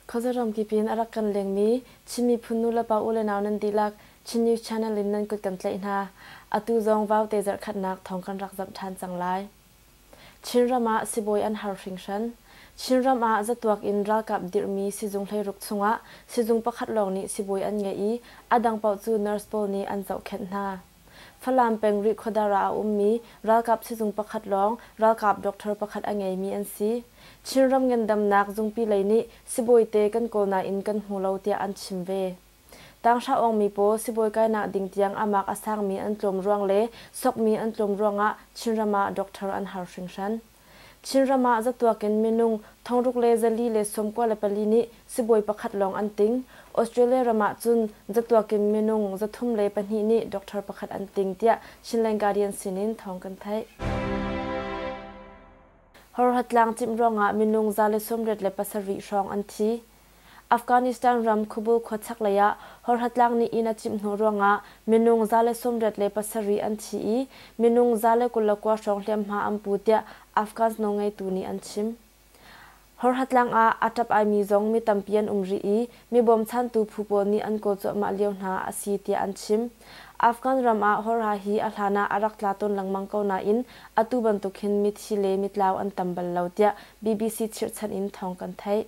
Khazaram kipin arak kan lengmi Chin miphun nulepa u le nau nan dihlak Chin News Channel in nan kut kan tlaih hna. Atu zong vau te zarhkhatnak thawng kan rak zamh ṭhan cang lai. Chinram ah sibawi an har hringhran. Chinram ah zatuak in ralkap dirhmi sizung hleiruk chungah sizung pakhat lawng nih sibawi an ngeih i a dang paoh cu nurse pawl nih an zohkhenh hna. Falam peng Rihkhawdar ah a ummi ralkap sizung pakhat lawng ralkap doctor pakhat a ngeimi an si. Chinram ngandamnak zungpi lei nih sibawi te kan kawl nain kan hmu lo tiah an chim ve. Tanghra-awngmi pawl sibawi kainak ding tiang a mak a sangmi an tlawm ruang le sokmi an tlawm ruangah Chinram ah doctor an har hringhran. Chinram ah zatuak in minung thongruk le zali le sawm kua le pali nih sibawi pakhat lawng an ting. Australia ram ahcun zatuak in minung zathum le pahnih nih doctor pakhat an ting tiah Chinland Guardian sinin thawng kan theih. Horhatlang cimh ruangah minung za le sawmriat le pasarih hrawng an thi. Afghanistan ram Kubul khuachak lei ah Horhatlang nih inn a cimh hnu ruangah minung za le sawmriat le pasarih an thi i minung za le kul le kua hrawng hliamhma an pu tiah Afghans nawlngeitu nih an chim. Horhatlang ah aa ṭap aimi zong mi tampi an um rih i mi bawmchantu phu pawl nih an kawl cuahmah lio hna a si tiah an chim. Afghan ram ah Horha hi a hlan ah a rak tla tawn lengmang ko nain atu bantuk hin mithi le mitlau an tam bal lo tiah BBC chirhchanh in thawng kan theih.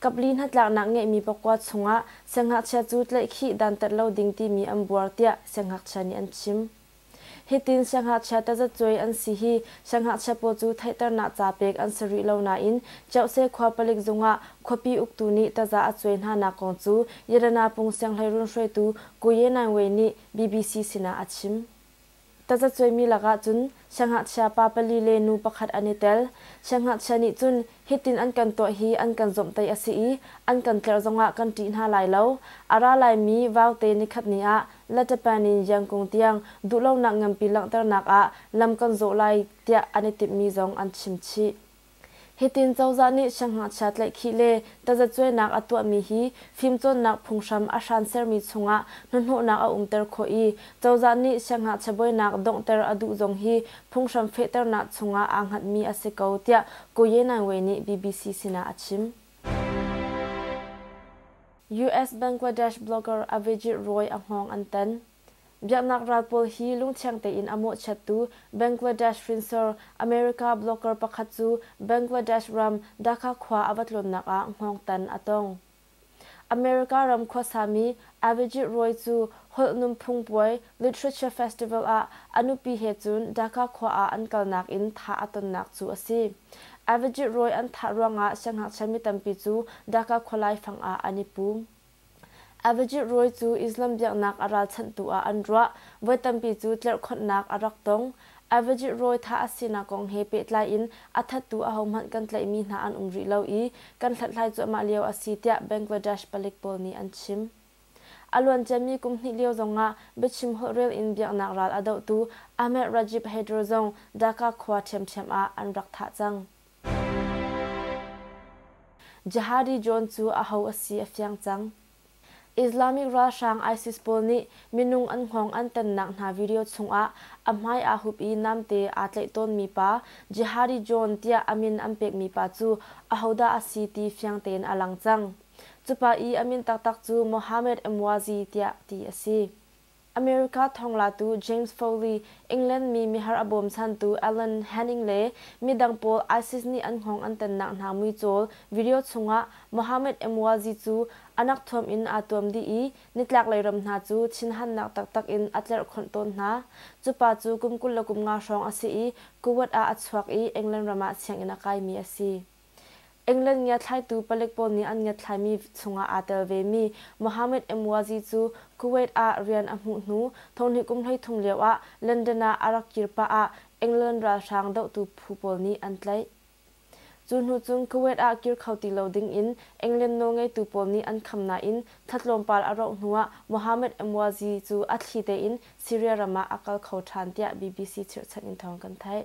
Kapli hnatlaknak ngeihmi pakua chungah siangngakchia cu tlaihkhih dantat lo ding timi an buar tiah siangngakchia nih an chim. Hitin siangngakchia tazacuai an si hi siangngakchia paw cu theihternak ca pek an si rih lo nain Ceuse khua palik zungah khuapi uktu nih taza a cuai hnanak kong cu Yelana pung sianghleirun hruaitu Kuye Naingwei nih BBC sinah a chim. Tazacuaimi lakah cun siangngakchia pa pali le nu pakhat an i tel. Siangngakchia nih cun hitin an kan tuah hi an kan zomhtaih a si i an kan tlerh zongah kan ṭih hna lai lo. A ra laimi Vaute nikhatni ah Latapan in Yangkung tiang duhlonak nganpi langhternak ah lam kan zawh lai tiah an i timhmi zong an chim chih. Hitin cozah nih sianghngakchia tlaihkhih le tazacuainak a tuahmi hi fimcawnnak phunghram a hran sermi chungah hnahnawhnak a umter khawh i cozah nih sianghngakchia buainak donghter a duh zong hi phunghram fehternak chungah aa hngatmi a si ko tiah Ko Yenawe nih BBC sinah a chim. US Bangladesh blogger Avijit Roy a hngawng an tan. Biaknak ral pawl hi lungthiang tein a mawhchiattu Bangladesh hrinsor America blogger pakhat cu Bangladesh ram Dhaka khua a va tlawnnak ah hngawngtan a tong. America ram khuasami Avijit Roy cu holh nunphung puai, literature festival, ah a nupi he cun Dhaka khua ah an kalnak in thah a tonnak cu a si. Avijit Roy an thah ruangah sianghngakchia mi tampi cu Dhaka khualai fang ah an i pum. Avajit rawi cu Islam biaknak a ralchanhtu ah an ruah. Voi tampi cu tlerhkhonhnak a rak tong. Avajit rawi thah a sinak kong he pehtlai in a thattu ahohmanh kan tlaihmi hna an um rih lo i kan hlathlai cuahmah lio a si tiah Bangladesh palik pawl nih an chim. A luanciami kum hnih lio zongah biachim holh rel in biaknak ral a dohtu Ahmed Rajib Hydro zong Dhaka khua ṭhiamṭhiam ah an rak thah cang. Jihadi John cu aho a si a fiang cang. Islamic ralhrang ISIS pawl nih minung an hngawng an tannak hna video chungah a hmai aa hup i namte aa tlaih tawnmi pa Jihadi John tiah a min an pekmi pa cu ahodah a si ti fiang tein a lang cang. Cupa i a min taktak cu Mohammed Emwazi tiah ti a si. America thawnglatu James Foley, England mi mihar a bawmchantu Alan Henning le midang pawl ISIS nih an hngawng an tannak hna muicawl video chungah Mohammed Emwazi cu a nak thuam in aa tuam dih i nitlaklei ram hna cu thinhannak taktak in a tlerhkhonh tawn hna. Cupa cu kum kul le kum nga hrawng a si i Kuwait ah a chuak i England ram ah sianginn a kaimi a si. England ngiathlaitu palik pawl nih an ngiathlaimi chungah aa tel vemi Mohammed Emwazi cu Kuwait ah rian a hmuh hnu thonghnih kum hleithum lioah London ah a rak kir pah ah England ralhrang dohtu phu pawl nih an tlaih. Cu hnu cun Kuwait ah kir kho ti lo dingin England nawlngeitu pawl nih an kham nain thla tlawmpal a rauh hnuah Mohammed Emwazi cu a thli tein Syria ram ah a kal kho ṭhan tiah BBC chirhchanh in thawng kan theih.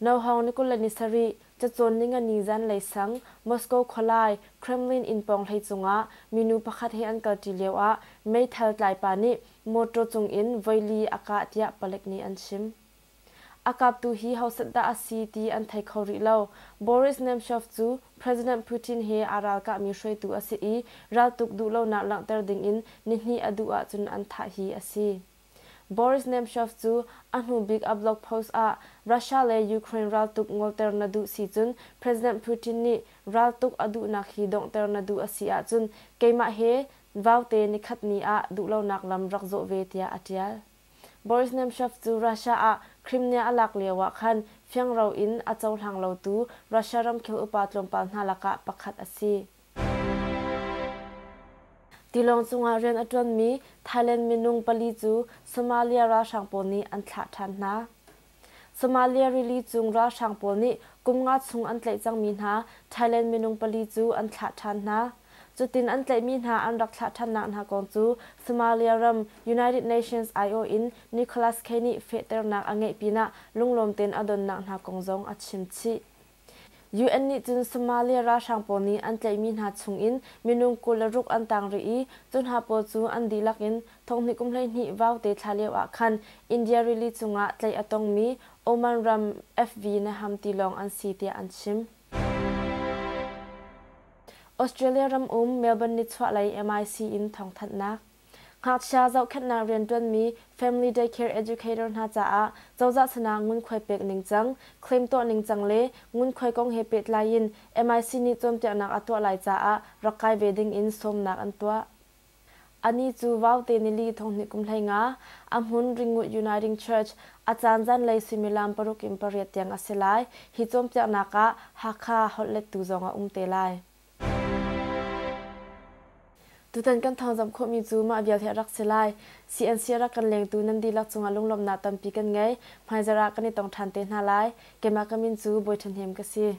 No. Hong ni kul le ni sarih, Cacawn ni ngani zanlei sang, Moscow khualai, Kremlin inn pawng hlei cungah minu pakhat he an kalṭi lioah meithal tlaipa nih mawṭaw cungin voili a kah tiah palek nih an chim. A kaptu hi hausat dah a si ti an thei kho rih lo. Boris Nemtsov cu President Putin he aa ralkahmi hruaitu a si i raltuk duh lonak langhter dingin nihnih a duh ahcun an thah hi a si. Boris Nemtsov cu a hnubik a blog post ah Russia le Ukraine raltuk ngolter na duh si cun President Putin nih raltuk a duhnak hi donghter na duh a si ahcun keimah he vaute nikhat ni ah duhlonak lam rak zawh ve tiah a ṭial. Boris Nemtsov cu Russia ah Crimea a lak lio ah khan fiangro in a cohlang lotu Russia ramkhel upa tlawmpal hna lakah pakhat a si. Tilawng cungah rian a ṭuanmi Thailand minung pali cu Somalia ralhrang pawl nih an thlah ṭhan hna. Somalia rili cung ralhrang pawl nih kum nga chung an tlaih cangmi hna Thailand minung pali cu an thlah ṭhan hna. Cutin an tlaihmi hna an rak thlah ṭhannak hna kong cu Somalia ram United Nations IO in Nicholas Kay nih fehternak a ngeih pinah lunglawm tein a donnak hna kong zong a chim chih. UN nih cun Somalia ralhrang pawl nih an tlaihmi hna chungin minung kul le ruk an tang rih i cu hna pawl cu an dihlak in thonghnih kum hleihnih vaute thla lio ah khan India rili cungah tlaih a tongmi Oman ram FV Naham tilawng an si tiah an chim. Australia ram um Melbourne nichuahlei MIC in thawngthanhnak. Ngakchia zohkhenhnak rianṭuanmi Family Daycare Educator hna caah cozah sinah ngunkhuai pek ningcang, claim tuah ningcang le ngunkhuai kong he pehtlai in MIC nih cawnpiaknak a tuah lai caah rak kai ve ding in sawmnak an tuah. Ani cu Vaute nili thonghnih kum hleinga a hmun Ringwood Uniting Church a caan zanlei suimilam paruk in pariat tiang a si lai. Hi cawnpiaknak ah Hakha holhlettu zong a um te lai. Tutan kan thawngzamh khawhmi cu mah vial hi a rak si lai. CNC a rak kan lengtu nan dihlak cungah lunglawmhnak tampi kan ngei. Hmaizarh ah kan i tong ṭhan te hna lai. Keimah ka min cu Bawi Ṭhahnem ka si.